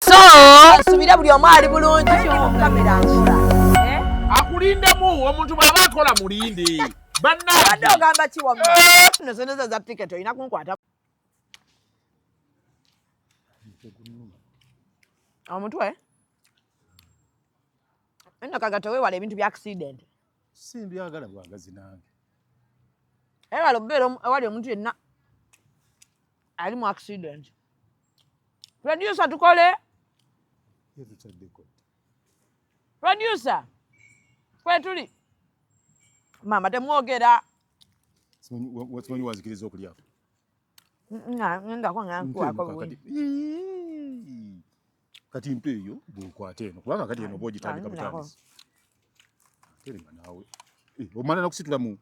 so nsubira buli omu ali bulungi kamera nkula eh? akulindemu omuntu bwaba akola mulindi bannabadde ogamba kiwa eh? nosoneza za ticket olina kunkwata omutwe eno kagata wewala ebintu bya accident simbyagala bwagazi nange ewala obubeera awali omuntu yenna ali mu accident producer tukole producer kwetuli maama temwogera simanyi wazikiriza okulya ngako ngankwako kati mpe eyo bwekwata eno kubanga kati eno oba ogitandika butandisi terenga naawe eh, omala nakusitulamu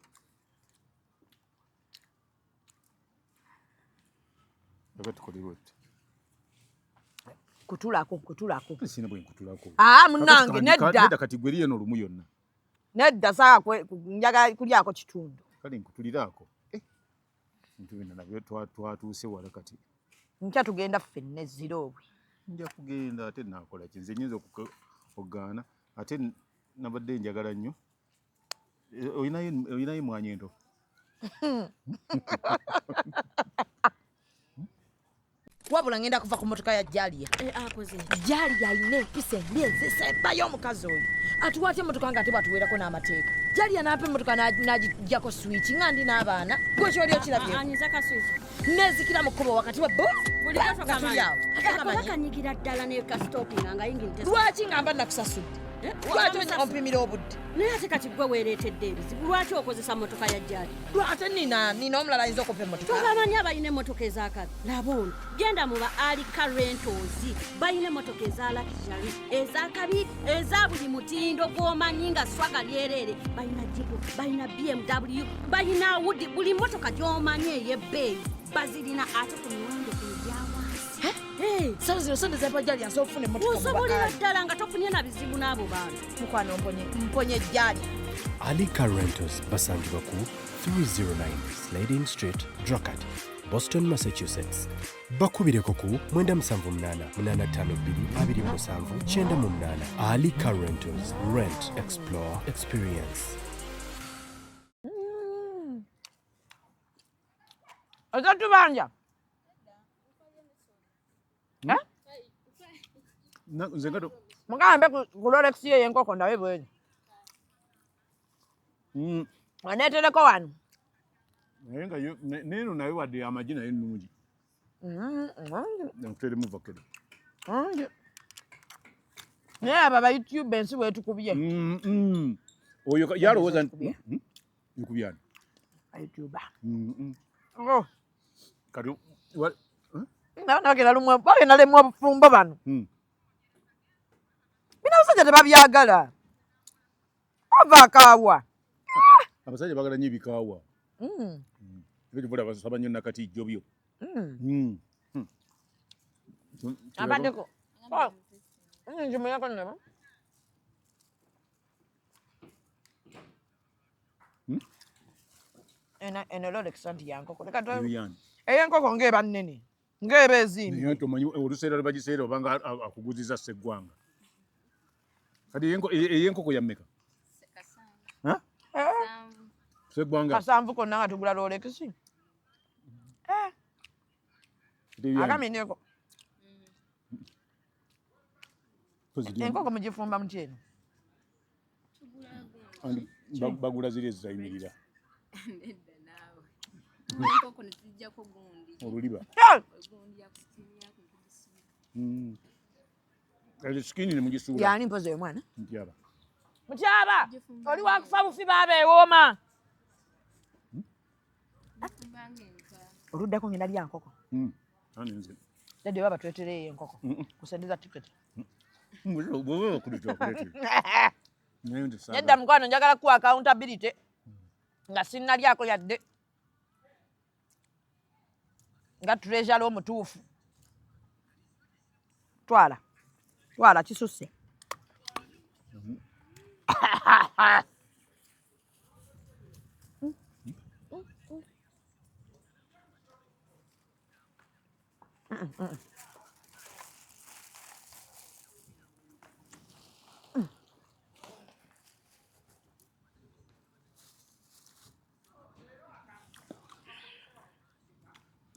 Oba tukole bwetyo. Kutulako, kutulako. Sina bwe nkutulako. Ah, munange nedda. Nedda kati gwe liye no lumu yonna. Nedda saa kwe njaga kulyako kitundu. Kale nkutulirako. Eh. Ntu bino nabyo twa twatuuse wala kati. Nkya tugenda fenne zero obwe. Nja kugenda ate nakola kinze nyinza okugaana ate nabadde njagala nnyo. olinayo emwanyi ento wabula ngenda kuva ku motoka ya jalia eh, ah, jalia alina empisa embi enzisa ebayo omukazi oyo atuwa atya emotoka nga ate bwatuweerako n'amateeka jalia naapa emotoka najijjako swiki nga ndi n'abaana gwekyoli okirabye nezikira mu kkubo wakati wa bokanyikira ddala nekasitopinga nga yingini lwaki nga mba nakusasudde eh? lwaki ompimira obudde naye ate kati gwe weereetedde ebizibu lwaki okozesa motoka ya jjali ate nina nina omulala ayinza okuva emotoka tobamanyi abalina emotoka ezakabi laba ono genda muba alika rentozi balina emotoka ezalakijali ezakabi eza buli mutindo gwomanyi nga swaga lyereere balina jibu balina bmw balina wudi buli motoka gyomanyi eyebbeeyi bazirina ate ku miwendo egyawansi sawo zino sente zebajali asobola okufuna emotoka osobolera ddala nga tofunye na bizibu n'abo bantu mukwano mponye mponye jjali Ali Car Rentals basangibwa ku 309 Sliding Street, Dracut, Boston, Massachusetts. bakubireko ku mwenda musanvu munaana munaana ttaano bbiri abiri mu musanvu kyenda mu munaana ali car rentals rent explore experience ozatubanja hmm? eh? nze ngato mugambe ku lolekisi yeyo enkoko ndabe bwezi Mm. Waneetereko wano. Naye nga yo neeno naye wadde amagi naye nnungi. Nkuteremu vakero. Naye abo aba YouTube ensi weetukubye. Mm, mm. Oyo yalowooza nti hmm? nkubyani. Ayutuba. Oh. Kati nabagenda lumwe bagenda lemu obufumbo bano hmm. bino abasajja tebabyagala Ava kaawa. Ah! Abasajja bagala nyo bikawa. Mm. mm. Ebyo bula basaba nyo nakati jobyo. Mm. Mm. Hmm. Hmm. Abadeko. Oh. Mm, jimu yako nabo. Hmm? Ena ena lole kisanti yanko. Kuleka to. Eyo yankoko ngeba nene. ng'eba ezindi naye nti omanyi oluseera lwe bagiseera obanga akuguziza sseggwanga kati ey'enkoko e, yammeka sseggwanga kasanvu konna nga tugula lolekisi eh. akamineko enkoko mugifumba mukyeno bagula ziri ezizayimirira oluliba hmm. ezo sikini nemugisuula yani mpozi oyo mwana mutyaba mutyaba oli wakufa bufi baba ewooma oluddako ngenda lya nkoko hmm. dadi oba batuletereyo enkoko kusendeza ticket nedda mukwano njagala kuwa accountability nga sinnalyako yadde nga treasure omutuufu twala twala kisusse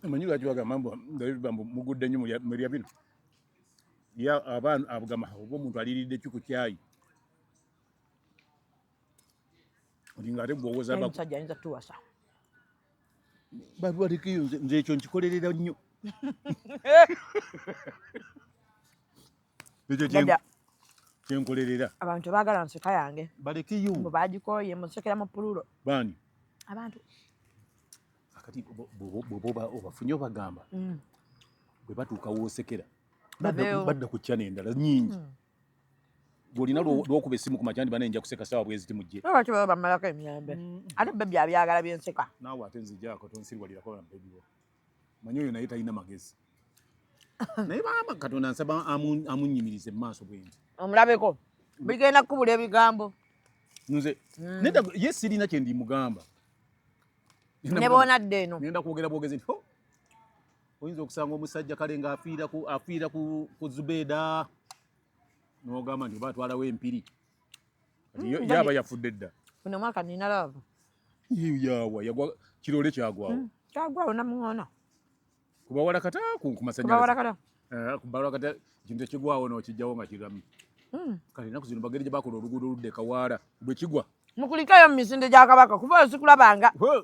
manyi lwaki bagamba mbu ndabibba mbu mugudde nnyo mulya bino ya abaana abugama oba omuntu aliridde ki ku kyayi olinga ate gwowoza musajja ayinza tuwasa balwalikiyo nze ekyo nkikolerera nnyo ekyo kyenkolerera abantu baagala nseka yange balekiyo mbu bagikooye musekera mu pululo baani abantu akati bwoba obafunye obagamba mm. bwe batuuka woosekera badda ku kyana endala nyingi mm. gwolina lwokuba esimu ku makya ndibana nja kuseka sawa bweziti mujje lwaki baba bamalako emirembe mm. ate bebi abyagala byenseka naawe ate nzijako tonsirwalirako na bebi wo manyi oyo naye talina magezi naye baba katonda nsaba amunyimirize mu maaso bwendi omulabeko bigenda kukubula ebigambo nze mm. neda ye sirina kyendimugamba nebonadde eno nenda kwogera bwogezi nti oyinza okusanga omusajja kale nga afiira ku afiira ku, ku zubeeda n'ogamba nti oba atwalawo empiri Kati yo- Mm, yaaba yafudde dda Buno mwaka nina love. Yiyo yaawa yagwa kiroole kyagwawo Mm. Kyagwa ona muona. ku bawala kata ku ku Kuba masannyalaze warakala. Eh, ku bawala kata ekintu ekigwawo n'okijjawo nga kiramu Mm. kale ennaku zino bageri gye bakola oluguudo oludda e kawaala bwe kigwa Mukulikayo mu misinde gya kabaka kuba osikulabanga. Hwe!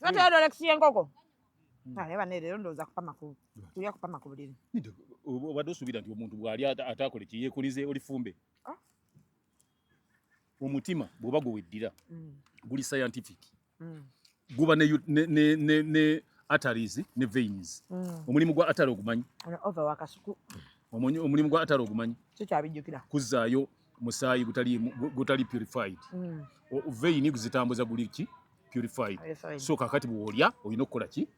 Sote mm. dole kusiye ngoko. Mm. Kale bane lero ndoza kupa makulu. Tuya kupa makulu lino. Ndio obadde osubira nti omuntu bwali atakole kiyekulize olifumbe. Ah. Omutima bwoba gweddira mm. guli scientific. Mm. Guba ne ne ne ne, ne arteries ne veins. Mm. Omulimu gwa atari ogumanyi. Ono over wakasuku. Omulimu gwa atari ogumanyi. Kyo kyabijjukira. Kuzaayo. Mm. musaayi gutali gutali purified mm. veini guzitambuza guli ki purified so kakati bwolya olina okukola ki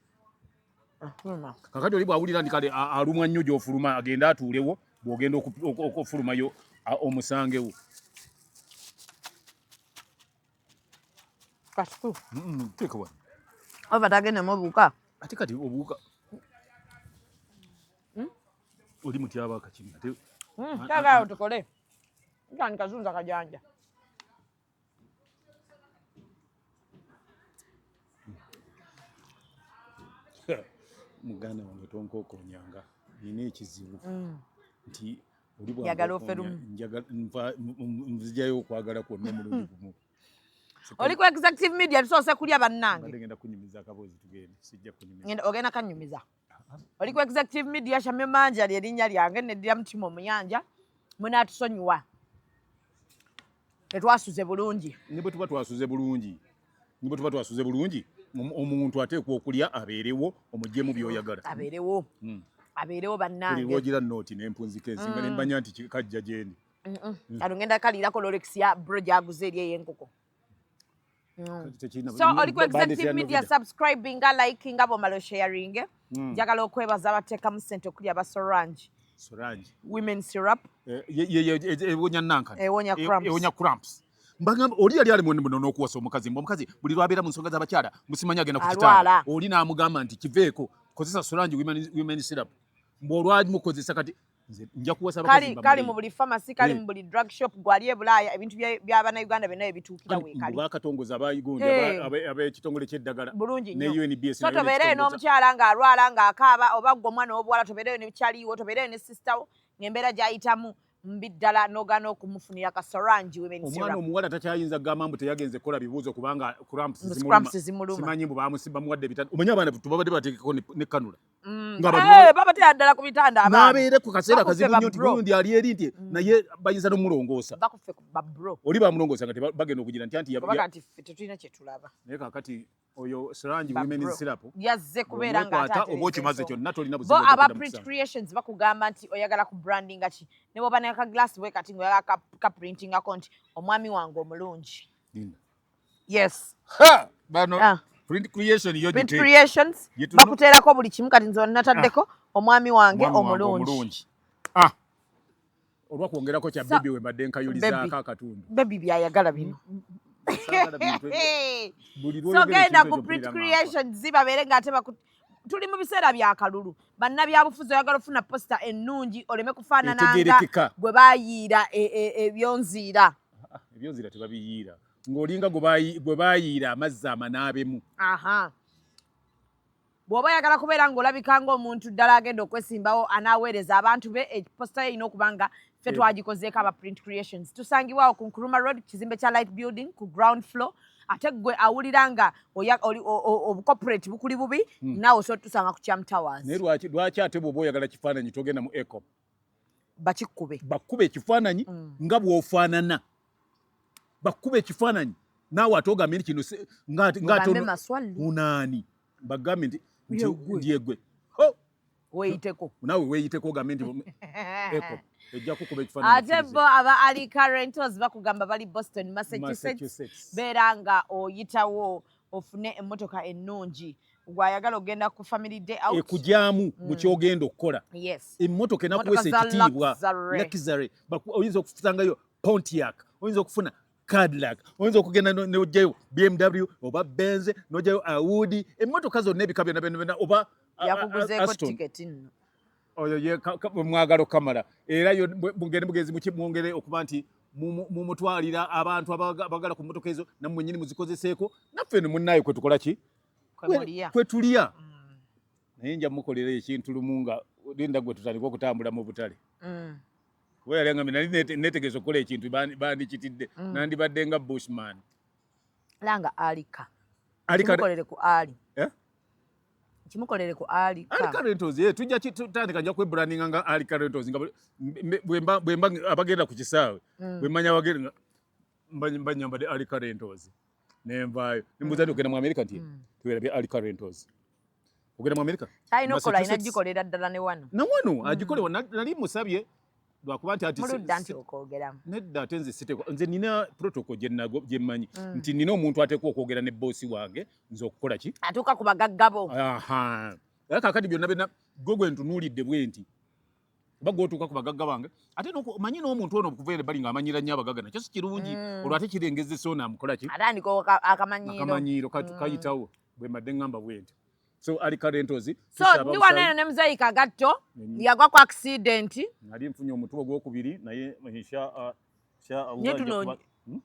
ah, kakati oli bwawulira ndi kale alumwa nnyo gyofuluma agenda atuulewo bwogenda okufulumayo omusangewo kasitu teeka wano oba tagendemu obuuka ate kati obuuka Oli mutyaba akakimi ate. Hmm, Kaga awo tukole. Nkani kazunza kajanja. Muganda wange tonkookonyanga nina ekizibu hmm. nti oli bwagala oferumu nzijayo okwagala kwonna omulundi gumu oli ku executive media tusoose kulya bannange ogenda kanyumiza oli ku executive media shamye manja lyerinnya lyange neddira mutima omuyanja munatusonyiwa tetwasuze bulungi ne bwe tuba twasuze bulungi ne bwe tuba twasuze bulungi omuntu ateekwa okulya abeerewo omugyemu byoyagala abeerewo hmm. abeerewo bannange ogira nooti nempunzika ensinga hmm. nembanya nti kajja gyendi kano ngenda kaliirako lolekisi ya bro gyaguze eri ey'enkoko Mm. so oli ku executive media subscribing nga liking nga bwomala osharinge mm. njagala okwebaza abateekamu sente okuli aba sorange sorange women syrup eh, ewonya nankana ewonya cramps mbagamba oli yali ali mwene muno n'okuwasa omukazi mbu omukazi buli lwabeera mu nsonga z'abakyala musimanya agenda ku kitanda oli n'amugamba nti kiveeko kozesa sorange women syrup mbu olwamukozesa kati kali kali mu buli pharmacy kali eh. mu buli drug shop gwali e Bulaaya ebintu bya bana Uganda byonna ebituukira weekali bakatongoza abayigunja eh. ab'ekitongole ky'eddagala bulungi nnyo so tobeereyo n'omukyala ng'alwala ng'akaaba oba gwe omwana ow'obuwala tobeereyo ne kyaliwo tobeereyo ne sisita wo ng'embeera gy'ayitamu mbi ddala nogana okumufunira kasorangi omwana omuwala takyayinza kugamba mbu teyagenze kukola bibuuzo kubanga cramps zimulumasimanyi mbu bamusiba muwadde bitano omanye abaana tubabadde bateekeko ne kanula Mm. Eh, babatera ddala ku bitanda n'abeere ku kaseera kazibu nnyo nti gundi ali eri nti mm. naye bayinza n'omulongoosa oli bamulongoosa nga bagenda okugira nti antitetulina kyetulaba naye kakati oyo srangi women sirapu yazze kubeera ngaata oba okimaze kyonna tolina buzibu aba print creations bakugamba nti oyagala ku branding ki ne bwoba neka glass bwe kati ngaoyagala ka printingako nti omwami wange omulungi yes ha bano ah. print creation yo print creations bakuteerako buli kimu kati nze nataddeko ah. omwami wange omulungi ah olwa kwongerako kya bebi we mbadde nkayulizaako akatundu bebi byayagala bino mm, mm, mm. so genda ku print creations babeere nga ate tuli mu biseera bya kalulu bannabyabufuzi oyagala ofuna posita ennungi oleme kufaanananga gwe bayiira e, e, ebyonziira ebyonziira tebabiyiira ng'olinga gwe bayiira amazzi amanaabemu bw'oba oyagala kubeera ng'olabika ng'omuntu ddala agenda okwesimbawo anaaweereza abantu be eposita ye erina okuba nga ffe eh. twagikozeeko aba print creations tusangibwawo ku nkuruma road kizimbe kya light building ku ground floor ate gwe awulira nga obucorporate bukuli bubi hmm. naawe osobola tusanga ku cham towers naye lwaki ate bwoba oyagala kifaananyi togenda mu ecom bakikube bakube ekifaananyi hmm. nga bwofaanana bakube ekifaananyi naawe ate ogambye nti kino ngaate unaani bagambye nti ndyegwe weyiteko nawe weyiteko ogambe nti eko ejja kukuba ekifaananyi ate bo aba alika rentals bakugamba bali boston massachusetts beera nga oyitawo ofune emmotoka ennungi gwayagala ogenda ku family day out ekugyamu mm. mu kyogenda okukola emmotoka enakuweesa ekitiibwa luxury oyinza okusangayo pontiac oyinza okufuna Cadillac oyinza okugenda n'ojjayo BMW oba Benz n'ojjayo Audi emmotoka zonna ebika byonna byonna oba yakuguzeeko tiketi nno oyo ye mwagalo kamala era yo mugende mugenzi muki mwongere okuba nti mumutwalira abantu abagala ku mmotoka ezo nammwe nyini muzikozeseeko naffe no munnaye kwe tukola ki kwe tulya mm. naye nja mukolera ekintu lumu nga linda gwe tutandika okutambula mu butale mm. kuba yali angambe nali netegeeza okukola ekintu bandikitidde mm. nandibadde nga bushman langa alika alikolere ku ali eh? kimukolere ku ali rentals ye eh, tujja tutandika nja kwebrandinga nga ali rentals nga bwemba bwemba abagenda ku kisaawe mm. bwemanya abagenda mbanyambade ali rentals ne nvaayo ne mbuuza nti ogenda mu amerika nti mm. tuwerabye ali carentos ogenda mu amerika alina okukola alina gikolera ddala ne wano na wano mm. agikolewa nali musabye lwakuba nti atimuludda nti okwogeramu nedda ate nze siteko nze nina protocol gyenago gyemmanyi mm. nti nina omuntu ateekwa okwogera ne boosi wange nze okukola ki atuuka ku bagaggabo kakati byonna byonna gwe gwe ntunuulidde bwe nti oba gwotuuka ku bagagga bange ate manyi n'omuntu ono okuva ere bali ng'amanyira nnyo abagagga nakyo si kirungi mm. olwo ate kirengezesa ono amukola ki akamanyiiro mm. kayitawo bwe mbadde ŋŋamba bwenti so ali karentozi so ndi wano eno ne muzeeyi kagatto mm. yagwa ku akisidenti nali nfunye omutwe ogwokubiri naye uh, nyetuno hmm?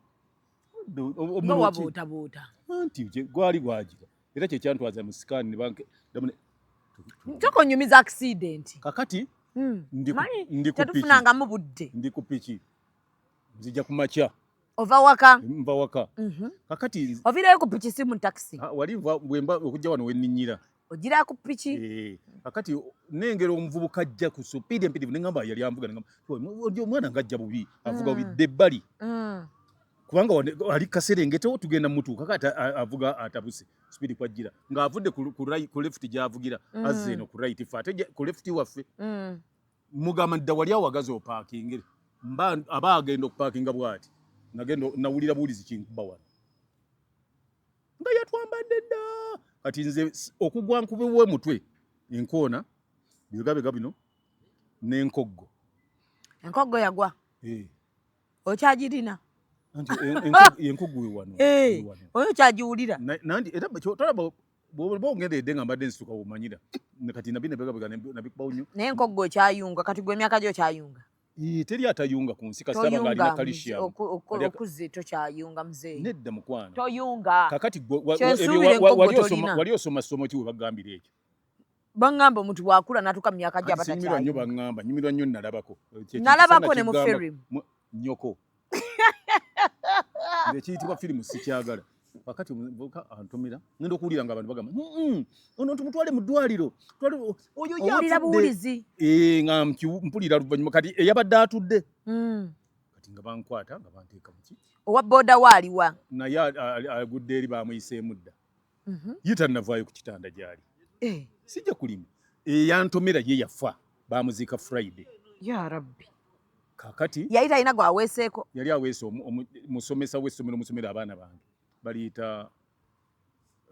obuutabuuta anti gwali gwagira era kye kyantwaza mu sikaani ne banke ntoko nyumiza accident kakati hmm. ndi ndi ku piki nangamu budde ndi ku piki nzija ku makya ova waka mva waka mhm. kakati ovirayo ku piki si mu taxi ah, wali bwemba okujja wano wenninyira ogira ku piki eh, kakati nengera omuvubuka ajja ku supidi empitivu nengamba yali anvuga nengamba omwana ngajja bubi avuga bubi mm. dde ebbali mm. kubanga ali kaserengeto tugenda mutuuka kati avuga atabuse sipidi kwajjira ng'avudde ku left gy'avugira mm. azze eno ku right fe ate ku left waffe mm. mugamba dda wali awagazi opaakingire mba aba agenda okupaakinga bw'ati nagenda nawulira buwulizi kinkuba wano nga yatwambadde dda kati nze okugwa nkubiwa omutwe enkoona bibegabega bino n'enkoggo enkoggo yagwa eh. okyagirina nti enkugu we wano eh, oyo kyagiwulira nandi era tolaba bwoba ongenda edde nga mbadde nsituka womanyira kati nabi nebegabega nabikubawo nnyo naye enkoggo okyayunga kati gwe emyaka gyo okyayunga teri atayunga ku nsi kasitaba nga alina kalisiyamuokuze tokyayunga mzee nedda mukwano toyunga kakati wali osoma ssomo ki webagambira ekyo bangamba omuntu bwakula natuka mu myaka gyabatakinyumirwa nyo bangamba nyumirwa nyo nalabako nalabako ne mu film nyoko ekiyitibwa firimu sikyagala wakati omuvubuka antumira ngenda okuwulira nga abantu bagamba ono tumutwale mu ddwaliro oyo yabuwulizi eh, nga mpulira luvannyuma kati eyabadde atudde hmm. kati nga bankwata nga banteeka muki owa boda waaliwa naye agudde eri bamuyiseemu dda mhm. ye tannavaayo ku kitanda gyali eh. sijja kulima eyantomera ye yafa bamuziika friday ya rabbi kakati yali talina gwaweeseeko yali aweese musomesa w'essomero musomero abaana bange baliyita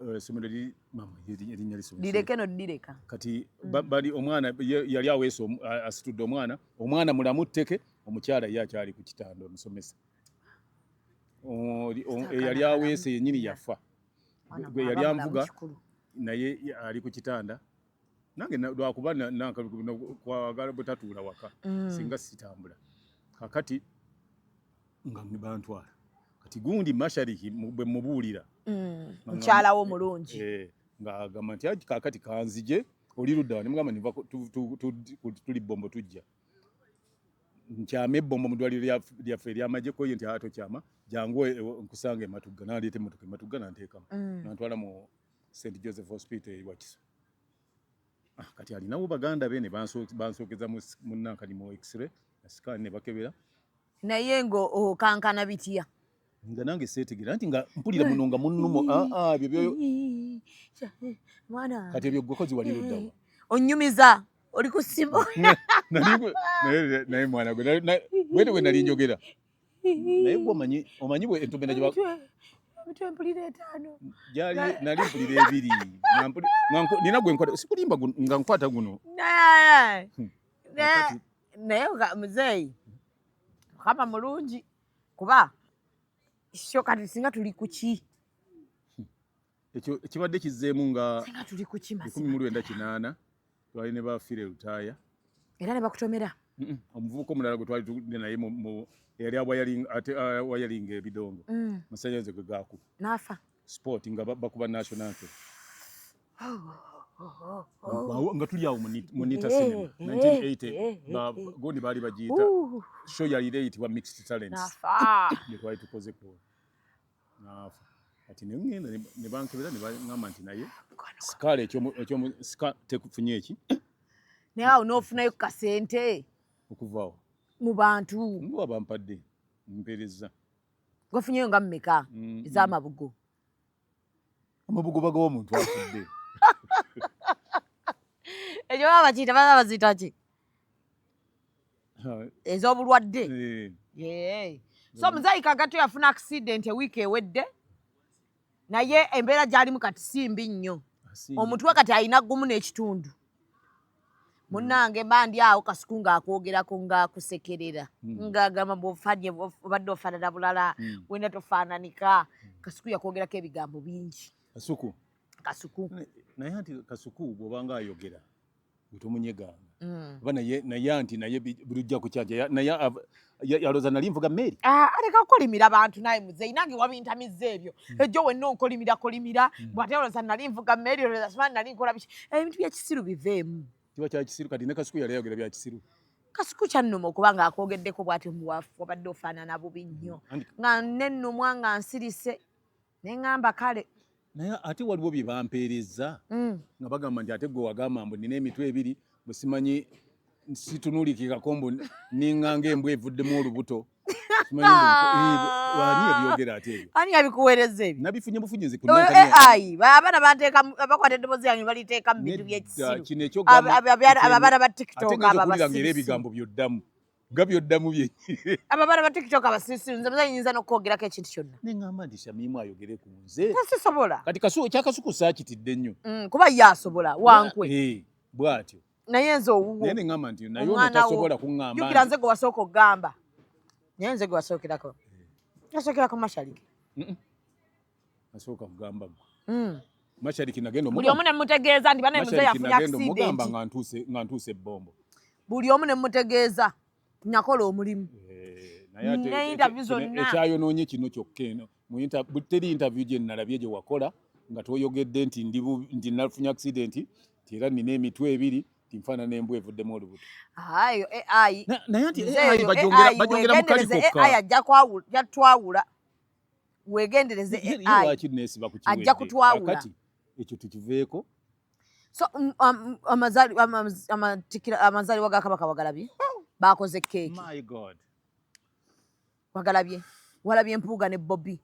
eh, somero li mama erinya lisomero direke no direka kati mm. bali omwana yali aweese asitudde omwana omwana mulamu tteke omukyala ye akyali ku kitanda omusomesa eyali aweese yenyini yafa gwe yali anvuga naye ali ku kitanda nange lwakuba nankakwagala butatuula waka mm. singa sitambula kakati nga bantwala kati gundi mashariki bwe mubuulira mm. mukyala wo mulungi eh, ng'agamba nti kakati kanzije oli ludda nimugamba niva tuli bombo tujja nkyama ebbombo mu ddwaliro lyaffe eryamagye koye nti aa tokyama jangu e, e, nkusanga ematugga naleeta emmotoka ematugga nanteekamu mm. nantwala mu st joseph hospital ewakiso ah, kati alinawo baganda be ne bansookeza munankani mu x-ray scan ne bakebera naye nga okankana bitya nga nange seetegera nti nga mpulira muno nga munnumo ah, ah, kati ebyo ggwe kozi wali luddawa onyumiza oli ku simu naye mwana gwe wete we nali njogera naye gwe omanyi omanyi bwe entumena gye mitwe mpulira etaano gyali nali mpulira ebiri nina gwe nkwata sikulimba nga nkwata guno hmm. naye muzeeyi mukama mulungi kuba kyo kati singa tuli kuki ekyo ekibadde kizzeemu nga singa tuli kuki ekumi mu lwenda kinaana twali ne bafiire lutaaya era ne bakutomera omuvubuka omulala gwe twali tugende naye eyali awayalinga ebidongo mm. masanyaze gwe gaakuba n'afa sport nga bakuba national anthem nga tuli awo munita cinema 1980 gondi baali bagiyita show yalira eyitibwa mixed talents gyetwali tukoze ku naafa kati nengenda nebankebera nebaŋamba nti naye sikala ekyomusika tekufunye eki naye awo nofunayo ku kasente okuvaawo mu bantu nduwa bampadde mpereza gwafunyeyo nga mumeka mm, ezamabugo mm. amabugo bagawa omuntu afudde ekyo baba bakiyita baba baziyita ki ez'obulwadde eh. so muzaika gato yafuna accident ewiiki ewedde naye embeera gyalimu kati si mbi nnyo omutwe kati alina gumu n'ekitundu munange mba ndi awo kasuku ng'akwogerako ng'akusekerera hmm. ng'agamba bwofanye obadde ofaanana bulala hmm. wena tofaananika hmm. kasuku yakwogerako ebigambo bingi kasuku kasuku naye anti kasuku bw'obanga ayogera tomunyeganga mm. ba naye naye anti naye bulijja kukyanja naye yaloza nali nvuga meeri ah, aleka kukolimira abantu naye muzeyi nange wabintamiza ebyo mm. ejjo wenna onkolimira kolimira mm. bwate yaloza nali nvuga meeri oloza sibani nali nkola biki eh, ebintu byekisiru biveemu kiba kyakisiru kati ne kasuku yali ayogera byakisiru kasuku kyannuma okuba nga akwogeddeko bwati omuwafu wabadde ofaanana bubi nnyo nga nennumwa nga nsirise neŋamba kale naye ate waliwo bye bampeerezza mm. nga bagamba nti ate gwe wagamba mbu nina emitwe ebiri bwesimanyi situnulikikako mbu ninganga embwa evuddemu olubuto abana bakwata edobozi yange baliteeka mubintu byekisiruabana ba tiktokaera ebigambo byoddamu nga byoddamu byenyini abo abaana ba tiktok abasirusiru nze muzayi nyinza n'okwogerako ekintu kyonna ne ŋŋamba nti shamimu ayogere ku nze tasisobola kati kasu ekyakasuku saakitidde nnyo mm, kuba ye asobola wankwe eh, bw'atyo naye nze owuwo naye ne ŋŋamba nti naye ono tasobola kuŋŋamba jukira nze gwe wasooka okugamba naye nze gwe wasookerako nasookerako mashalike Nasooka kugamba gwe. Mm. Mashariki nagenda omugamba. Buli omu ne mutegeeza ndi bana mzee yafunye accident. Omugamba nga ntuuse nga ntuuse bombo. Buli omu ne mutegeeza nakola omulimu. Eh, naye ate ne interview zonna. Ekyayonoonye kino kyokka eno. Mu interview teri interview gye nalabye gye wakola nga toyogedde nti ndi ndi nafunye accident era nina emitwe ebiri nfaana nembwa evuddemu olubuto ayo ai naye nti ai bajongera bajongera mukali kokka ai ajja kwawula jatwawula wegendereze ajja kutwawula ekyo tukiveeko so mm, um, um, amazaalibwa ga kabaka wagalabye bakoze keeki wagalabye walabye mpuuga ne bobi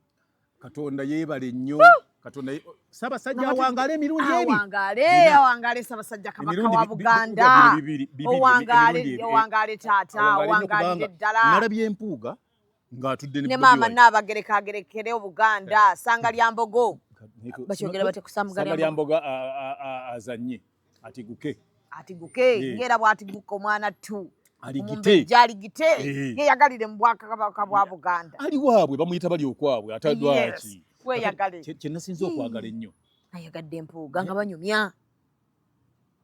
katonda yebale nnyo katonda sabasajja awangaale emirundi ebiawangaale awangaale sabasajja kabaka wa buganda owangaale owangaale taata owangaale ddala nalabye empuuga ng'atudde ne maama Nnaabagereka agerekere Obuganda eh. sanga lya mbogo bakyogera bate kusanga lya mbogo azanye atiguke atiguke eh. ng'era bw'atiguka omwana ttu jaligite eh. yeyagalire mu bwakabaka bwa buganda ali waabwe bamuyita bali okwabwe atadwaki kyenasinza okwagala ennyo ayagadde empuuga nga banyumya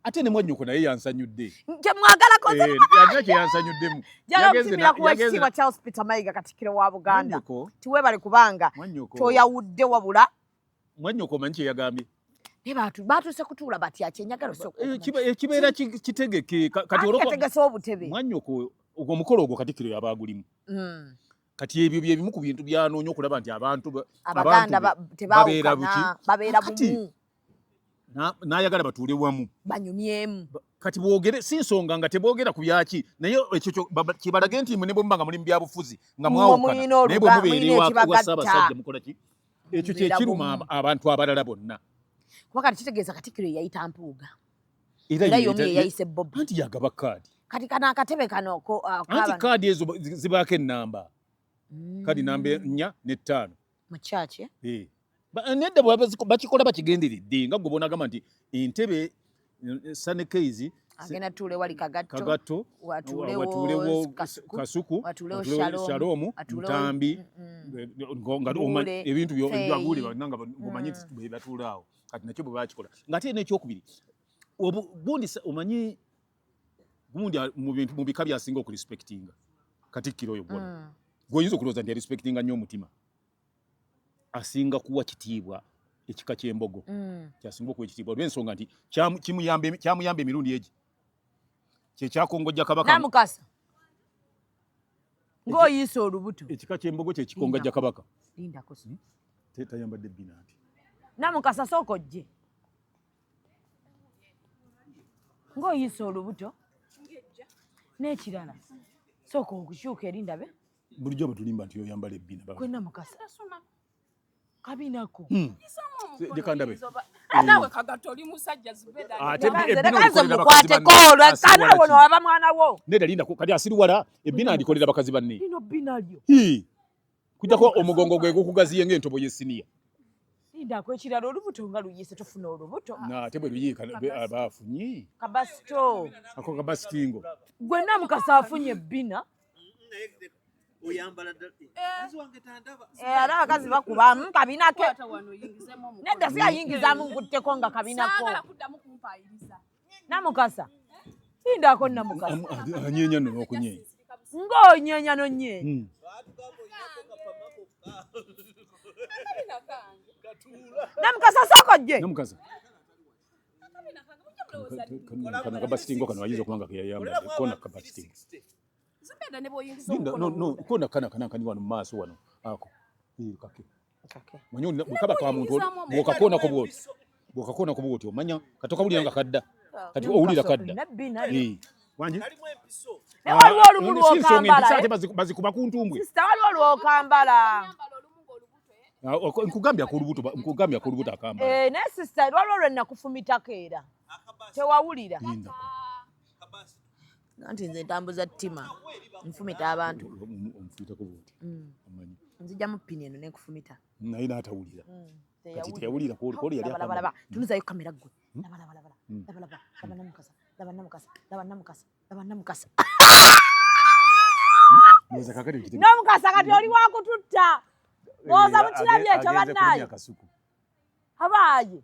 ate ne mwannyoko naye yansanyudde kyemwagalako eh, yalina kyeyansanyuddemu yagenzesimira kuwa ekitiibwa charles peter mayiga katikkiro wa buganda tiwebale kubanga toyawudde wabula mwannyoko omanyi kyeyagambye batuuse kutuula batya kyenyagala ekibeera eh, eh, kitegeke katitegese obutebe mwannyoko ogwo omukolo ogwo katikkiro yaba agulimu hmm. kati ebyo byebimu ku bintu byanoonya okulaba nti abantu babeera buki babeera bumu n'ayagala batuule wamu banyumyemu kati bwogere si nsonga nga tebwogera ku byaki naye ekyo kibalage nti mwe ne bwe muba nga muli mu byabufuzi nga mwawukana naye bwe mubeera ewa ssaabasajja mukola ki ekyo kye kiruma abantu abalala bonna kuba kati kitegeeza katikkiro ye yayita mpuuga era yomu ye yayise bobi anti yagaba kaadi kati kano akatebe kano uh, anti kaadi ezo zibaako ennamba mm. kaadi namba ennya n'ettaano mu kyaki eh. eh, nedda bakikola bakigenderedde nga gwe bonagamba nti entebe eh, sane keizi agenda tuule wali kagatto watuulewo kasuku watuulewo shalomu ntambi ebintu byaguule nga omanyi nti bebatuulaawo kati nakyo bwe bakikola nga ate nekyokubiri obundi omanyi gundi mu bintu mu bika byasinga okurespectinga katikkiro oyo gwona mm. gwoyinza okulowooza nti arespectinga nnyo omutima asinga kuwa kitiibwa ekika ky'embogo mm. kyasinga okuwa ekitiibwa olw'ensonga nti kyamuyamba emirundi egi kyekyakongojja kabaka namukasa ng'oyiisa olubuto ekika ky'embogo kyekikongajja kabaka lindako tayambadde bbina nti namukasa sooka ojje ng'oyiisa olubuto n'ekirala sooka okukyuka eri ndabe bulijjo batulimba nti oyambala ebbina kwena mukasa kabinako hmm. jekandabe nawe eh. kagati oli musajja zibedamukwateko olwekana wono waba mwana wo nedalindako kati asiriwala ebbina alikolera bakazi banne lino bbina lyo kujako omugongo gwe gukugaziye nga entobo yesiniya sindako ekirala olubuto nga luyise tufuna olubuto nate bwe luyiika aba afunye kabasito ako kabasitingo gwenna mukasa afunye ebbina oyambala ddala eh, eh. wange tandaba eh, ala abakazi bakubamu mm, kabinako nedda siyayingizamu nkutteko nga kabinako Namukasa. Sindako namukasa. Anyenya no okunyenya. Ngo nyenya no nye. Hmm. Namukasa soko je. Namukasa. Kana kabasitingo kana wajizo kumanga kwa yamba. Kona kabasitingo. Zubeda nebo yingizo. No no kona kana kana kani wanu maso wanu. Ako. Iyi kake. manya bukaba ka muntu bwokakona ku bwoti bwokakona ku bwoti omanya katoka buli nga kadda ah, kati owulira kadda wangi naye waliwo olumu lwokambala bazikuba ku ntumbwe waliwo lwokambala ah, nkugambya ku lubuto nkugambya ku lubuto akamba eh, naye sisita waliwo lwe nakufumitako era tewawulira anti nze ntambuza ttima nfumita abantu omufuyitako bwoti amanyi mm. nzija mu pini eno nenkufumita naye naatawulira mm. kati teyawulira koli yali abalaba tunuzayo kamera gwe hmm? labalabalaba hmm. labalaba laba namukasa laba namukasa laba namukasa laba namukasa hmm? namukasa kati oli wakututta eh, oza mukirabye ekyo bannaye abaaye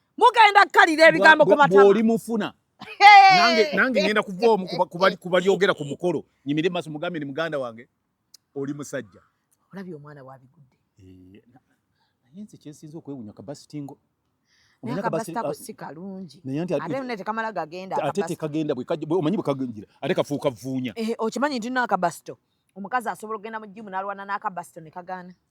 mugenda kukalira ebigambo ku matama bw'oli mufuna nange nange ngenda kuva omu ku balyogera ku mukolo nyimire maso mugambe ni muganda wange oli musajja olabye omwana wabigudde eh, naye nze kyensinza okwewunya kabasitingo omanyi bwekagenjira ate kafuuka vuunya eh, okimanyi nti no akabasito omukazi asobola okugenda mu jimu nalwana n'akabasito ne kagaana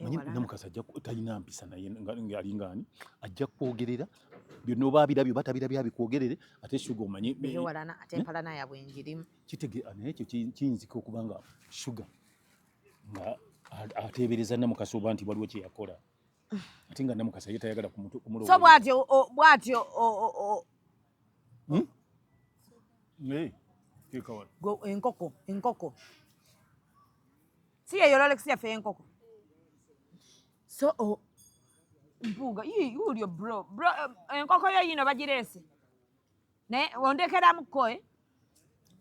manyi namukasa ajja talina mpisa naye ali ngaani ajja kwogerera byonna oba abirabyo oba tabirabyo abikwogerere ate shuga omanyi kitege naye ekyo kiyinzika okuba nga shuga nga ateebereza namukasa oba nti waliwo kyeyakola ate nga namukasa ye tayagala kumuloso bwatyo bwatyo hmm? enkoko enkoko Si ye Rolex ya fenkoko. So oh, mpuuga yii ulyo bro bro eh, enkoko yo yino bagirese naye ondekeramu ko eh?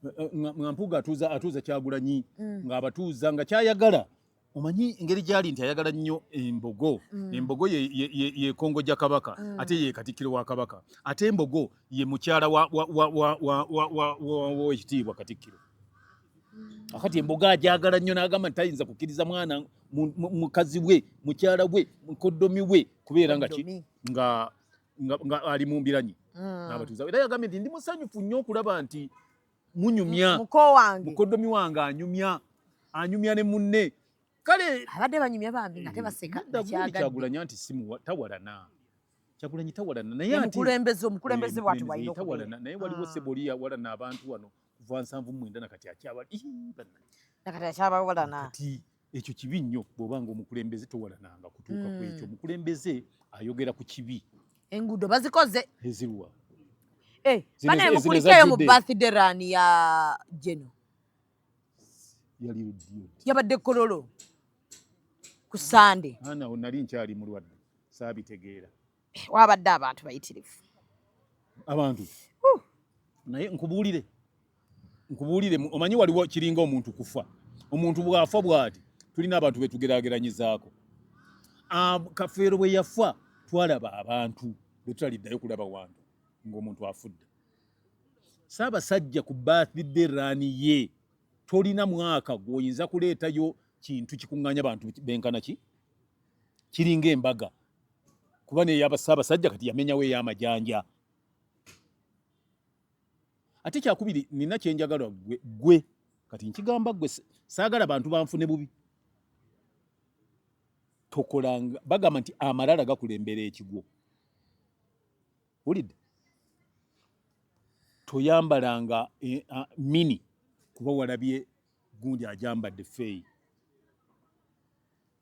eh, eh nga mpuuga atuuza atuuza kyagulanyi mm. nga abatuuza nga kyayagala omanyi engeri gyali nti ayagala nnyo embogo mm. embogo yekongo gya kabaka mm. ate ye katikkiro wa kabaka ate embogo ye mukyala wekitiibwa katikkiro akati emboga ajagala nnyo n'agamba nti tayinza kukkiriza mwana mukazi we mukyala we mukoddomi we kubeera nga ki nga nga ali mu mbiranyi mm. n'abatuuza era yagambye nti ndi musanyufu nnyo okulaba nti munyumya mukoddomi wange anyumya anyumya ne munne kale abadde banyumya bambi nga tebaseka kyagulanyi nti tawalana kyagulanyi tawalana naye omukulembeze omukulembeze bwati walina tawalana naye waliwo ah. seboli yawalana abantu wano kuva nsanvu mwenda nakati akyaba nakati akyabawalana kati ekyo kibi nnyo bw'oba nga omukulembeze towalananga kutuuka ku ekyo mm. omukulembeze ayogera ku kibi enguudo bazikoze eziruwa eh, banaye mukulikeeyo mu birthday run ya jeno yabadde kololo ku sande ana nali nkyali mulwadde saabitegeera wabadde abantu bayitirivu abantu naye nkubuulire nkubuulire omanyi waliwo kiringa omuntu kufa omuntu bwafa bwati tulina abantu betugerageranyizaako ah, kafeero bwe yafa twalaba abantu betutaliddayo kulaba wantu ng'omuntu afudde saabasajja ku birthday run ye tolina mwaka gwoyinza kuleetayo kintu kikuŋŋanya bantu benkana ki kiringa embaga kuba neyaba Ssaabasajja kati yamenyawo ey'amajanja. Ate kyakubiri nina kyenjagala gwe gwe kati nkigamba gwe saagala bantu banfune bubi tokolanga bagamba nti amalala gakulembera ekigwo wulidde toyambalanga eh, ah, mini kuba walabye gundi ajambadde feeyi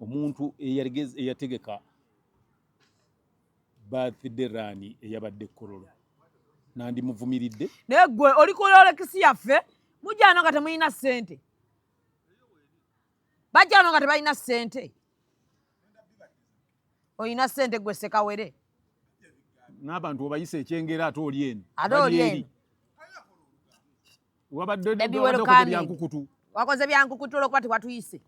omuntu eyategeka birthday run eyabadde kololo nandimuvumiridde naye gwe oli kololekisi yaffe mujano nga temulina sente bajano nga tebalina sente olina sente gwe sekawere n'abantu obayisa ekyengera ate oli eno ate oli eno wabadde byankukutu wakoze byankukutu olwokuba tewatuyise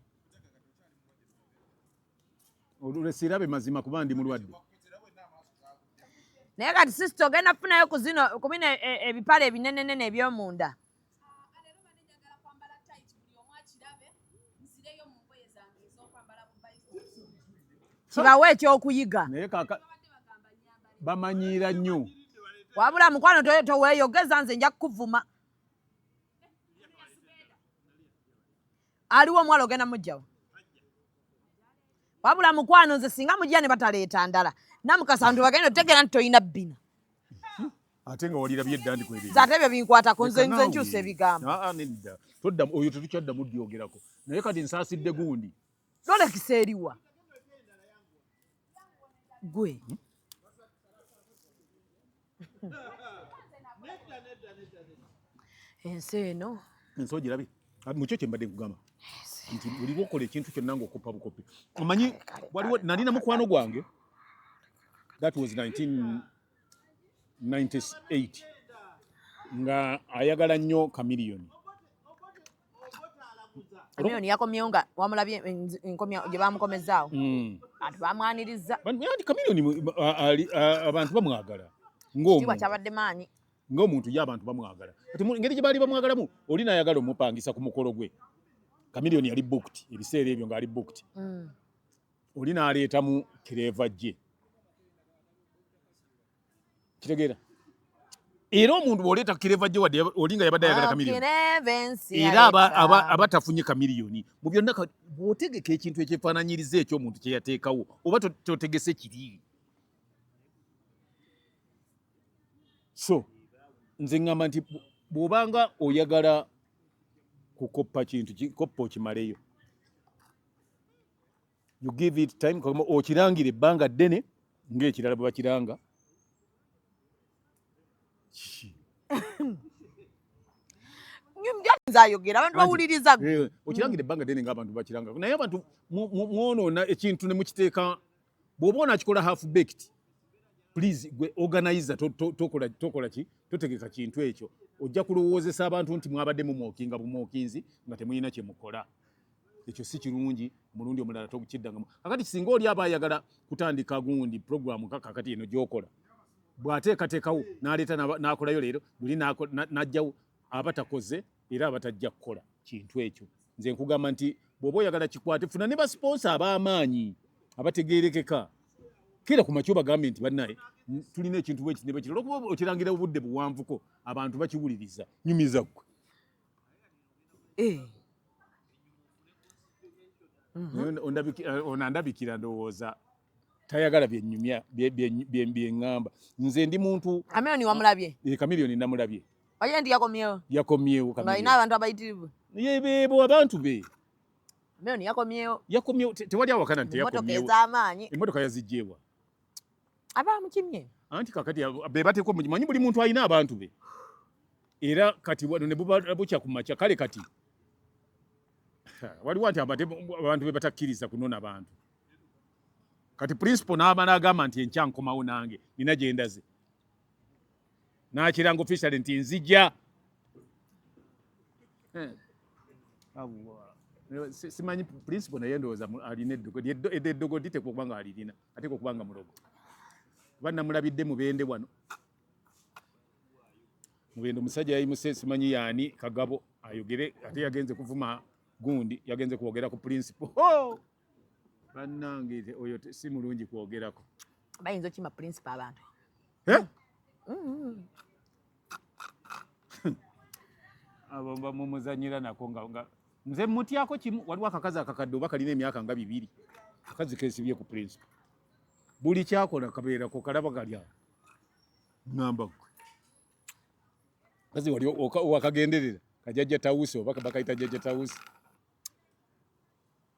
olulesirabe mazima kuba ndi mulwadde naye kati sisita ogenda kufunayo kuzino kubina e, e, ebipale ebinenenene ebyomunda kibawe ekyokuyiga naye kaka bamanyiira nnyo wabula mukwano toweyogeza nze nja kukuvuma aliwo omuwala ogenda mujjawo wabula mukwano nze singa mujja ne bataleeta ndala namukasa nti bagenda otegeera nti tolina bbina ate nga walirabye edda ndi kwebyo ate ebyo binkwatako nze nze nkyusa ebigambo aa ah, ah, nedda todda oyo tetukyaddamu dyogerako naye kati nsaasidde gundi lolekisa eriwa gwe hmm? ensi eno ensi ogirabye ah, mukyo kyembadde nkugamba nti buli lwokola ekintu kyonna ngaokoppa bukoppi omanyi waliwo nalina mukwano gwange that was 19 98 nga ayagala nnyo kamiliyoni kamiliyoni yakomyewo nga wamulabye enkomya gye bamukomezaawo hmm. ati bamwaniriza anti kamiliyoni abantu bamwagala ngomtiibwa kyabadde maanyi ng'omuntu ye abantu bamwagala kati ngeri gye baali bamwagalamu oli nayagala omupangisa ku mukolo gwe kamiliyoni yali booked ebiseera ebyo ng'ali booked hmm. oli n'aleetamu kireeva gye kitegeera era omuntu bw'oleeta kireeva gye wadde oli nga yabadde ayagala kamiliyoni era aba tafunye kamiliyoni mu byonna bw'otegeka ekintu ekyefaananyiriza ekyo omuntu kye yateekawo oba totegese kiri so nze ŋŋamba nti bw'obanga oyagala kukoppa kintu koppa okimaleyo you give it time okirangira ebbanga ddene ng'ekirala bwe bakiranga nze ayogera abantu bawuliriza eh, okirangira ebbanga ddene ng'abantu bakiranga naye abantu mwonoona ekintu ne mukiteeka bw'oba onakikola half baked please gwe organizer tokola ki totegeka kintu ekyo ojja kulowoozesa abantu nti mwabadde mumwokinga bumwokinzi nga temulina kye mukola ekyo si kirungi omulundi omulala tokukiddangamu kakati singa oli aba ayagala kutandika gundi puroguramu ka kakati eno gyokola bw'ateekateekawo n'aleeta n'akolayo leero luli n'ajjawo aba takoze era aba tajja kukola kintu ekyo nze nkugamba nti bw'oba oyagala kikwate funa ne basiponsa ab'amaanyi abategeerekeka kera ku makyo bagambye nti bannaye tulina ekintu bwekiti ne bwekiti olwokuba okirangira obudde buwanvuko abantu bakiwuliriza nyumiza ggwe eh. mhm. eh, onandabikira ndowooza tayagala byenyumya byeŋŋamba nze ndi muntu kamiliyoni wamulabye eh, kamiliyoni namulabye oye ndi yakomyewo yakomyewo alina abantu abayitirivu yebebo abantu be kamiliyoni yakomyewo yakomyewo tewali awakana nti yakomyewo emotoka yazijjeewa abamukimye anti kakati bebateko manyi buli muntu alina abantu be era kati wano nebubukya ku makya kale kati waliwo nti abantu be batakkiriza kunona bantu kati principal n'aba n'agamba nti enkya nkomawo nange nina gye ndaze n'akiranga officially nti nzija eh. simanyi principal naye ndowooza alina eddogo eddogo diteekwa okuba nga alirina ateeka okuba nga mulogo kuba namulabidde mubende wano mubende omusajja yayimuse simanyi yaani kagabo ayogere ate yagenze kuvuma gundi yagenze kwogera ku principle bannange oyo si mulungi kwogerako bayinza okima principle abantu eh? mm-hmm. abo bamumuzanyira nako nga nga nze mutyako kimu waliwo akakazi akakadde oba kalina emyaka nga bibiri akazi kesibye ku principal buli kyakola kabeerako kalaba kalya ngamba gwe kazi wali wakagenderera kajajja tawusi oba bakayita jajja tawusi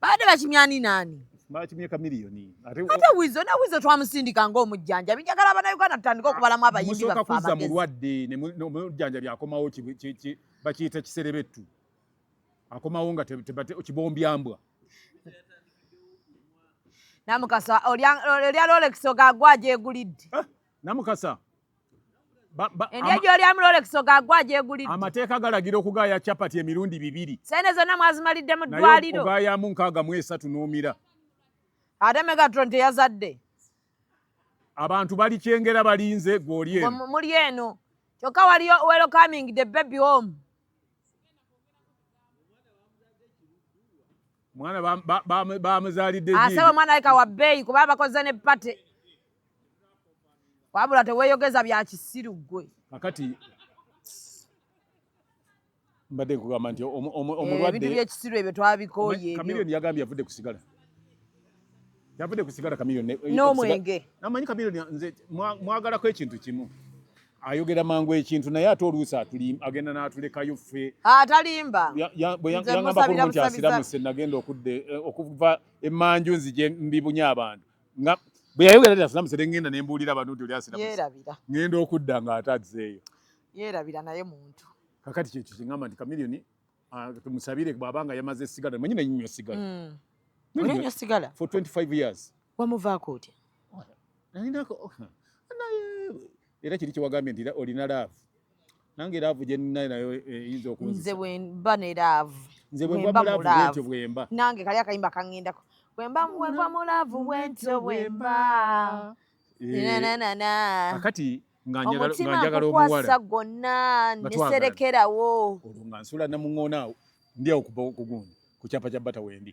baabadde bakimye ani naani bakimye kamiliyoni ate wizo ne wizo twamusindika ngaomujjanjabi njagala abanauganda tutandika okubalamu abayimbi baffe kuzza mulwadde omujjanjabi akomawo bakiyita kiserebettu akomawo nga kibombyambwa namukasa olya lolekisi ogagwa gyegulidde ah, namukasa Endya gy'oli amulolekiso gaagwo agyegulidde. Amateeka galagira okugaaya capati emirundi bibiri. Sente zonna mwazimalidde mu ddwaliro. Naye okugaayamu nkaaga mu esatu n'omira. Ate Megatron teyazadde. Abantu bali kyengera balinze gw'oli eno. Muli eno. Kyokka waliyo welcoming the baby home. mwana bamuzalidde asaba omwana aleka wa bbeeyi kuba abakoze ne pate wabula teweyogeza bya kisiru gwe kakati mbadde nkugamba nti omulwadde eh, byekisiru ebyo twabikooye kamiliyoni yagambye yavudde ku sigala yavudde ku sigala kamiliyoni eh, n'omwenge namanyi kamiliyoni nze mwagalako ekintu kimu ayogera mangu ekintu naye ate oluusi agenda n'atulekayo ffe atalimba bwe yangamba kulungi asiramu se nagenda eh, okuva emanju nzije mbibunye abantu nga bwe yayogera nti asiramusa ne ŋŋenda ne mbuulira abantu nti oli asiramusa yeerabira ŋŋenda okudda ng'ate azzeeyo yeerabira naye muntu kakati kyekyo kyeŋŋamba nti kamiliyoni ah, tumusabire bw'aba nga yamaze esigala manyi naye nywa sigala hmm. olinywa sigala for 25 years wamuvaako otya nalinako oh, naye era kiri kyewagambye nti olina laavu nange laavu gyeninayo nayo eh, eyinza okunze bwemba ne laavu nze bwemba mulaavu bwentyo bwemba nange kali akayimba kangendako bwemba bwemba mulaavu bwentyo bwemba eh, akati omutima nkukwasa gwonna neserekerawo olwo nga nsula namuŋonaawo ndyawo kugundi ku kyapa kya bata wendi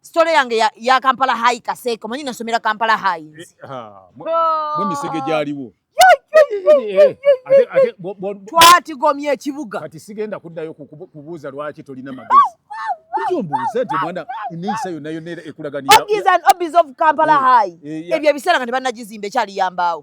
Story yange ya, ya Kampala High Kaseko. Manyi nasomera Kampala High. Eh, ha. Mwe misege gyaliwo. Eh, eh, Twatigomye ekibuga. Kati sigenda kuddayo kubuuza lwaki tolina magezi. Lwaki ombuuza nti mwana eneyisa yonna yonna ekulaganira. Ogiza obiza of Kampala High. Ebyo ebiseera nga tebannagizimba ekyali yambaawo.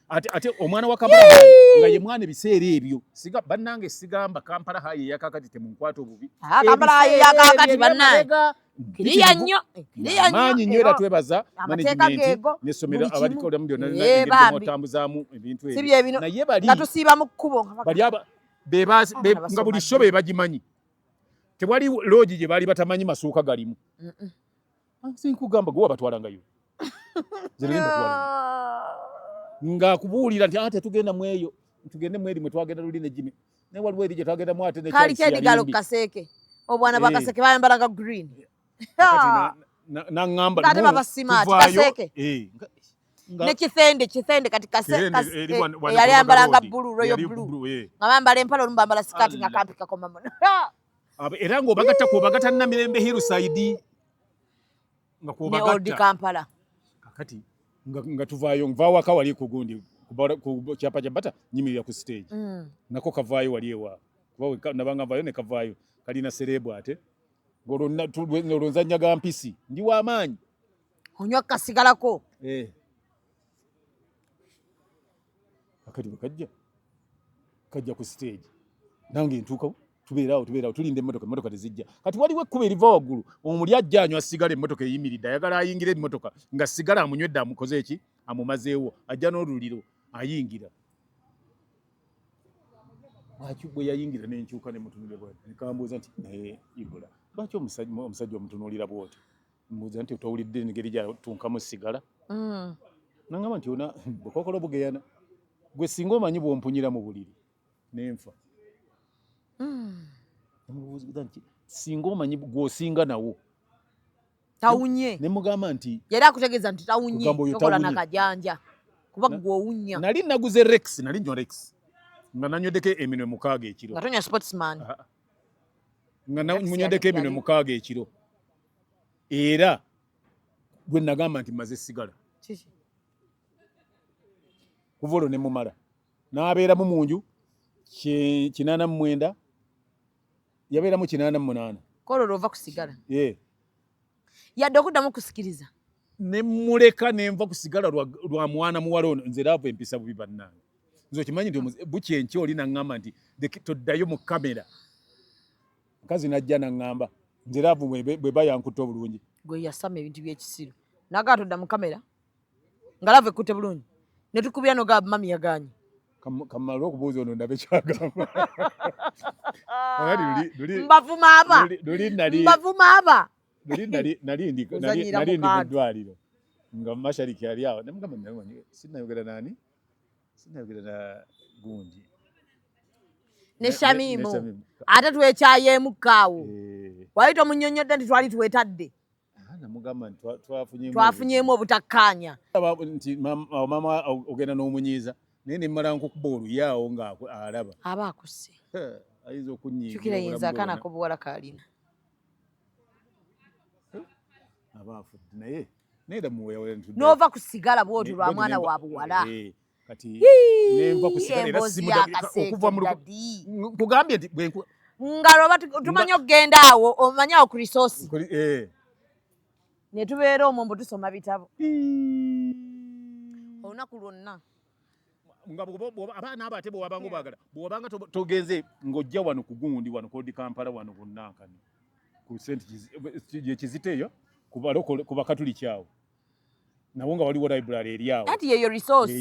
ate ate omwana wa Kampala nga ye mwana ebiseera ebyo siga bannange sigamba Kampala hayi yakakati temunkwata obubi ah, Kampala hayi yakakati bannange kiriya nnyo kiriya nnyo maanyi nnyo era twebaza management n'essomero abalikodamu byonna nabitambuzaamu ebintu ebyo naye bali nga tusiiba mu kkubo bali aba nga buli sho be bagimanyi tewali loogi gye baali batamanyi masuuka galimu sinkugamba gwe wabatwalangayo nga kubuulira nti ate ah, tugenda mu eyo tugende mu eri mwe twagenda luli ne jimi naye waliwo eri gye twagenda mu ate kaliko edigalo ku kaseeke obwana bwa eh. kaseeke bayambalanga green naŋamba ate baba simaati kaseeke eh, ne kithende kithende kati eh, yali ayambalanga bulu royo bulu nga bambala empala olumu bambala sikaati nga kampi kakoma muno era ng'obagatta kwobagatta namirembe hirusaidi nga kwobagattakampala kakati nga tuvaayo nvaawaka wali kugundi ku kyapa kya bata nyimirira ku stage mm. nako kavaayo wali ewa kuba nabanga nvayo nekavaayo kalina serebu ate olwo nzanya ga mpisi ndi wamaanyi onywa kasigalako eh. akati bwe kajja kajja ku siteegi nange ntuukawo tubeeraawo tubeeraawo tulinda emmotoka emmotoka tezijja kati waliwo ekkuba eriva waggulu omuli ajja anywa sigala emmotoka eyimiridde ayagala ayingira emmotoka nga sigala amunywedde amukoze eki amumazeewo ajja n'oluliro ayingira lwaki bwe yayingira nenkyuka nemutunulira bwati nekambuuza nti naye ibula lwaki omusajja omutunuulira bwoti mbuuza nti otowulidde engeri gyatunkamu sigala mm. nangamba nti ona bukokola obugeyana gwe singa omanyi bwompunyira mu buliri nenfa mm. mubuuza nti singa omanyi gwosinga nawo tawunye nemugamba nti yali akutegeeza nti tawunye tokola nakajanja kuba gwe owunya nali naguze rex nali nywa rex nga nanywedeko eminwe mukaaga ekiro nga tonya sportsman ah, ah. nga munywedeko eminwe mukaaga ekiro era gwe nagamba nti maze sigala kuva olwo ne mumala n'abeeramu mu nju kinaana mu mwenda yabeeramu kinaana mu munaana kola olwo ova kusigala yadde okuddamu okusikiriza ne muleka ne nva kusigala lwa mwana muwala ono nze laavu empisa bubi bannange nze okimanyi nti bukya enkya oli naŋŋamba nti toddayo mu kamera mukazi najja naŋŋamba nze laavu bwe ba yankutte obulungi gwe yasama ebintu byekisiru nagaa todda mu kamera nga laavu ekutte bulungi ne tukubira noga mami yagaanyi kamala okubuuza ono ndabe kyagamba mbavuma aba mbavuma aba nali ndi mu ddwaliro nga mashariki ali awo nemugamba sinayogera nani sinayogera na gundi ne shamimu ate twekyayeemu kaawo eh. wali tomunyonyodde nti twali twetadde namugamba nti twafunyeemu obutakkaanya nti mama ogenda n'omunyiiza naye nemmala nkukuba oluyaawo ng'alaba aba akusse ayinza okunyiikira yinza akana kobuwala kalina aba afudde naye n'ova ku sigala bw'otyo lwa mwana wa buwala eh, nkugambye nti nga lwoba tumanyi okugenda awo omanyi awo ku risosi eh. ne tubeera omwo mbu tusoma bitabo olunaku lwonna nga abaana abo ate bwewabanga obagala bwewabanga togenze ng'ojja wano ku gundi wano kodi kampala wano bunankani ku sente gyekizita eyo ku bakatuliki awo nawo nga waliwo library eri awo anti yeyo resource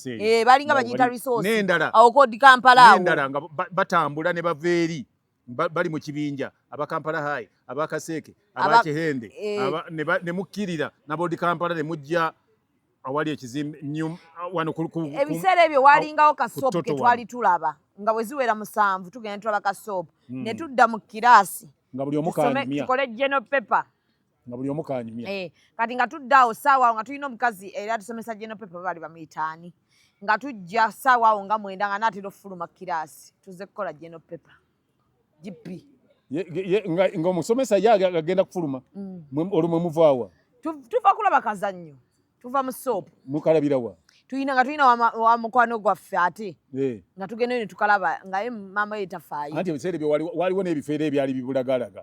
eh, balinga bagiyita resource n'endala awo kodi kampala awo n'endala nga batambula ne bava eri bali mu kibinja aba Kampala High aba Kaseeke aba Kihende eh. ne mukkirira naboodi Kampala ne mujja awali ekizimbe wano ebiseera ebyo walingawo kasoopu ke twali tulaba nga bwe ziwera musanvu tugenda tulaba kasoopu hmm. ne tudda mu kiraasi tukole geno pepa nga buli omu kanyumya eh, kati nga tudda awo saawa awo nga tulina omukazi era tusomesa general paper baali bamuyitaani nga tujja saawa awo nga mwenda nga naatera okufuluma kiraasi tuze kukola general paper gp nga omusomesa ye agenda kufuluma mm. olwo mwe muvaawa tuva kulaba kazannyo tuva mu soopu mukalabira wa tuyina nga tuyina wa mukwano gwaffe ate eh. nga tugendayo ne tukalaba ngaye maama ye tafaayo anti ebiseera ebyo waliwo n'ebifeera ebyali bibulagalaga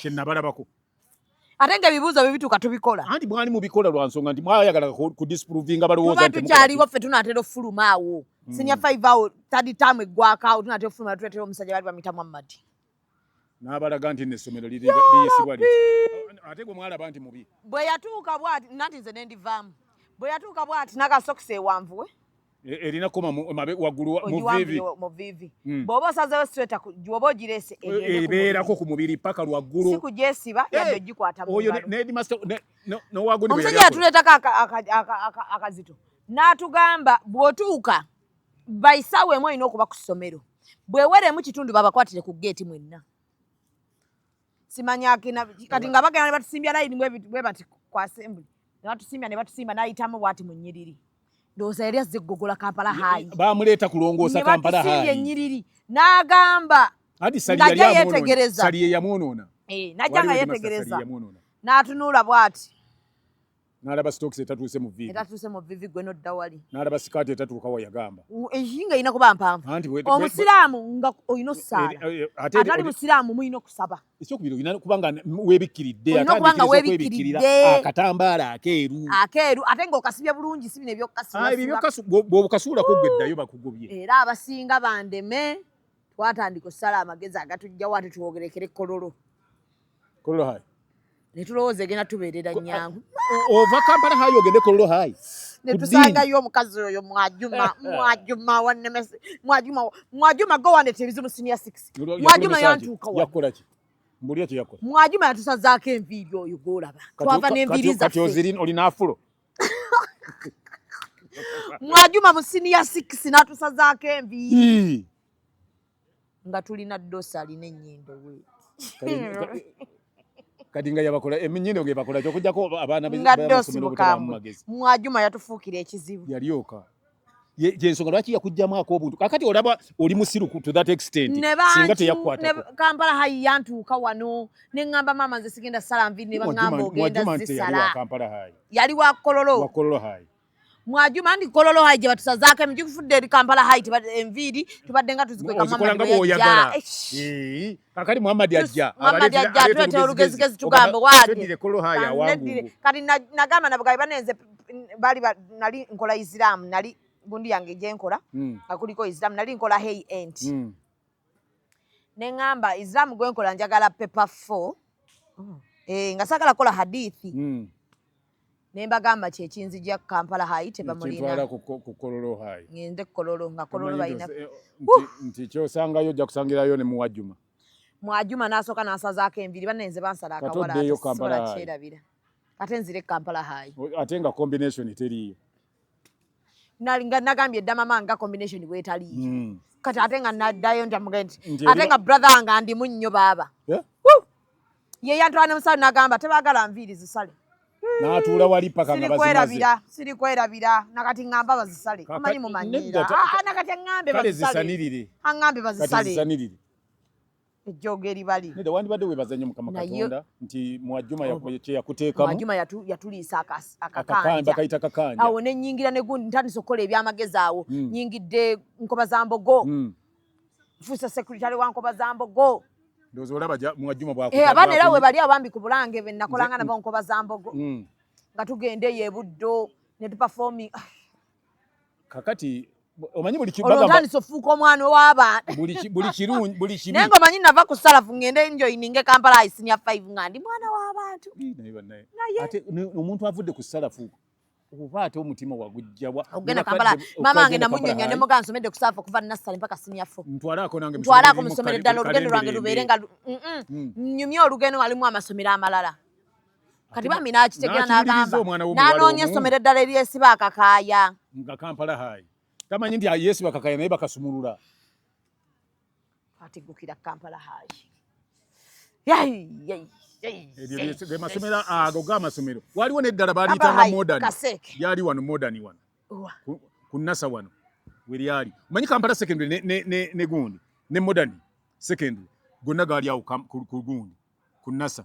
kye nabalabako ate nga ebibuuzo bye bituuka tubikola anti mwali mubikola lwa nsonga nti mwayagala ku disprovinga balowooza nti tukyaliwo ffe tunaatera okufuluma awo hmm. sinya five awo tadi taamu eggwako awo tunaatera okufuluma tuletera omusajja bali bamita muhammadi n'abalaga nti n'essomero liyisibwa li ate gwe mwalaba nti mubi bwe yatuuka bwati nanti nze ne ndivaamu bwe yatuuka bwati n'akasokisi ewanvuwe E, erina koma waggulu mu vivi hmm. bw'oba osazeewo sitweta gyoba ogirese e, e, ebeerako ku mubiri paka lwaggulu si kugyesiba yadde ogikwata omusajja yatuleetako akazito n'atugamba bw'otuuka baisaawa emu olina okuba ku ssomero bweweremu kitundu babakwatire ku geeti mwenna simanya akina kati nga bagenda ne batusimbya layini bwe bati ku assembly ne batusimbya ne batusimba n'ayitamu bwati mu nnyiriri ndowooza yali azze kugogola kampala hayi bamuleeta kulongoosa kampala hayi ne batusimbya ennyiriri n'agamba naja yetegereza sali yeyamwonoona eh, naja nga yetegereza n'atunula bwati Nalaba stocks etatuuse mu vivi. Etatuuse mu vivi gwe no dawali. Nalaba sikati etatuuka wa yagamba. Ehinga ina kuba mpamvu. Anti we. Omusiramu nga oyino sala. Eh, eh, eh, Atali musiramu muyino kusaba. Ekyo kubiro ina kubanga webikiridde atali kubanga webikiridde. Akatambala ah, akeeru. Akeeru ate nga okasibye bulungi sibi ne byokasula. Ah byo kasu bwo kasula ko gwedda yo bakugubye. Era abasinga bandeme twatandika sala amagezi agatujja watu tuogerekere kololo. Kololo High. Ne tulowooza egenda tubeerera nnyangu. Ova Kampala High ogende Kololo High. Ne tusangayo omukazi oyo Mwajuma, Mwajuma wannemese, Mwajuma, Mwajuma go wandete ebizibu senior six. Mwajuma yantuuka wa. Yakola ki? Mbulira kye yakola. Mwajuma yatusazaako enviiri oyo gw'olaba. Twava n'enviiri zaffe. Kati ozirina olina afulo. Mwajuma mu senior six n'atusazaako enviiri. nga tulina dosa alina ennyindo kati nga yabakola eminyino eh, gebakola kyokujjako abaana bamagezi mwajuma yatufuukira ekizibu yalyoka yensonga lwaki yakujjamu akobuntu kakati olaba oli musiru to that extent singa teyakwatako kampala hayi yantuuka wano ne ŋŋamba maama nze sigenda sala nvi ne baŋŋamba ogenda zisala yali wakololo wakololo hayi mwajuma ndi kololo hayi gye batusazaako emigi kufudde eri kampala hayi enviiri tubadde nga tuzikwekamuyaja eh, kakati muhammadi ajja muhammadi ajja tuleeta olugezigezi tugambe waadire kati nagamba nabugabi banenze bali nali nkola isiramu nali gundi yange gyenkola hmm. nga kuliko isiramu nali nkola hey ent hmm. ne ŋŋamba isiramu gwenkola njagala pepa fo hmm. eh, nga sagala kola hadithi ne mbagamba nti ekinzija kampala hayi tebamulina ku kololo hayi ngende kololo nga kololo balina eh, nti kyosangayo ojja kusangirayo ne muwajuma mwajuma nasooka nansazaako enviri banne nze bansala akawalasobola kyerabira ate nzire kampala hayi ate nga combination teriiyo nga nagambye dda mama nga combination bwetali mm. kati ate nga naddayo ntamuga nti ate nga brother wange andimu nnyo baaba ye yantwala ne musale nagamba tebagala nviiri zisale natuula wali paka nga bazimazira siri kwerabira nakati ngamba bazisale amanyi mumanyira ah, ah, nakati angambe bazisale angambe bazisale ejjoogo eribali nedda wandibadde webaza nnyo mukama katonda nti mwajuma oh. kyeyakuteekamumwajuma yatuliisa akakanja kakanja awo nenyingira negundi ntandisa okukola ebyamagezi awo hmm. nyingidde nkoba za mbogo hmm. fuusa sekuritale wa nkoba za mbogo eh, abaana era webali abambi ku bulange benakolanga nabo nkoba za mbogo hmm. nga tugenda eyo ebuddo netupafomi kakati omanyi buli kibaga olutandise ofuuka omwana owaba buli buli kirungi buli kibi nengo manyi nava ku salafu ngende enjo ininge kampala isinya 5 ngandi mwana wabantu naye banaye ate omuntu avudde ku salafu oba ate omutima wagujjawa ogenda kampala mama ange namunyonya ne muga nsomedde kusafa okuva nasale mpaka sinya fo ntwalako nange ntwalako musomere dalo lugendo lwange lubeere nga mm. nyumya olugendo alimu amasomero amalala kati bambi n'akitegera n'agamba n'anoonya essomero eddala eryesiba akakaaya nga kampala hayi tamanyi nti yesiba akakaaya naye bakasumulula ategukira kampala hayi ge masomero ago ga masomero waliwo neddala baliyitanga modern yali wano modern wano ku nasa wano weryali omanyi kampala secondary ne gundi ne modern secondary gonna gaali awo ku gundi ku nasa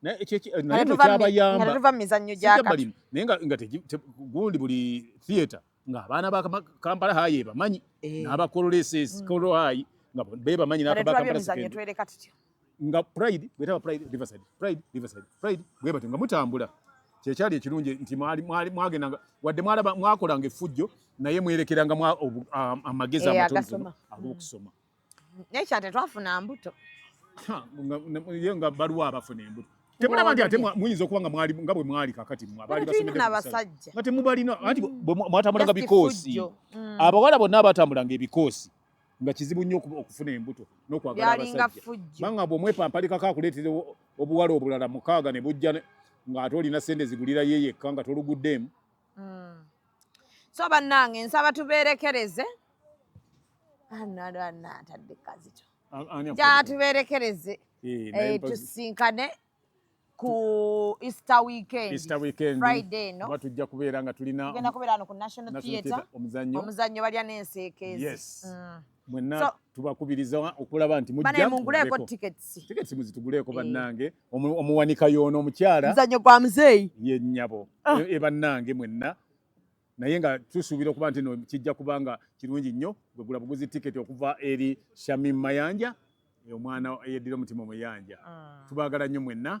kyabayambaetuva mu mizannyo gyakalimu naye nga gundi buli theatre ng'abaana ba kampala hayi ebamanyi eh. n'abakololeses mm. kolo hayi nga bebamanyi n'abakampala nga pride bwetaba pride riverside pride riverside pride bwebatyo nga mutambula kyekyali ekirungi nti mwagendanga wadde mwakolanga effujjo naye mwerekeranga amagezi amatono ag'okusoma naye kya tetwafuna mbuto ye nga baluwa abafuna embuto temulaba nti ate muyinza okuba nga mwali nga bwe mwali kakati abaali basomeddeabasajja nga temubalina anti mwatambulanga bikoosi mm. abawala bonna abatambulanga ebikoosi nga kizibu nnyo okufuna embuto n'okwagala abasajja banga bwomwepampalikako akuleetera obuwala obulala mukaaga ne bujja ng'ate olina sente zigulira ye yekka nga toluguddeemu mm. so bannange nsaba tubeerekereze anatadde kazito jatubeerekereze eh, eh, tusinkane ku easter weekend easter weekend friday no kuba tujja kubeera nga tulina tugenda kubeera no ku national theatre omuzannyo omuzannyo balya n'enseekeezi yes mm. mwenna so, tubakubiriza okulaba nti mujjamunguleeko tickets tickets muzituguleeko eh. bannange omuwanika yoono omukyala muzanyo gwa muzeeyi ye nnyabo ah. e, e bannange mwenna naye nga tusuubira okuba nti no kijja kubanga kirungi nnyo gwegula buguzi tiketi okuva eri shamim mayanja e, omwana eyeddira omutima omuyanja ah. tubagala nnyo mwenna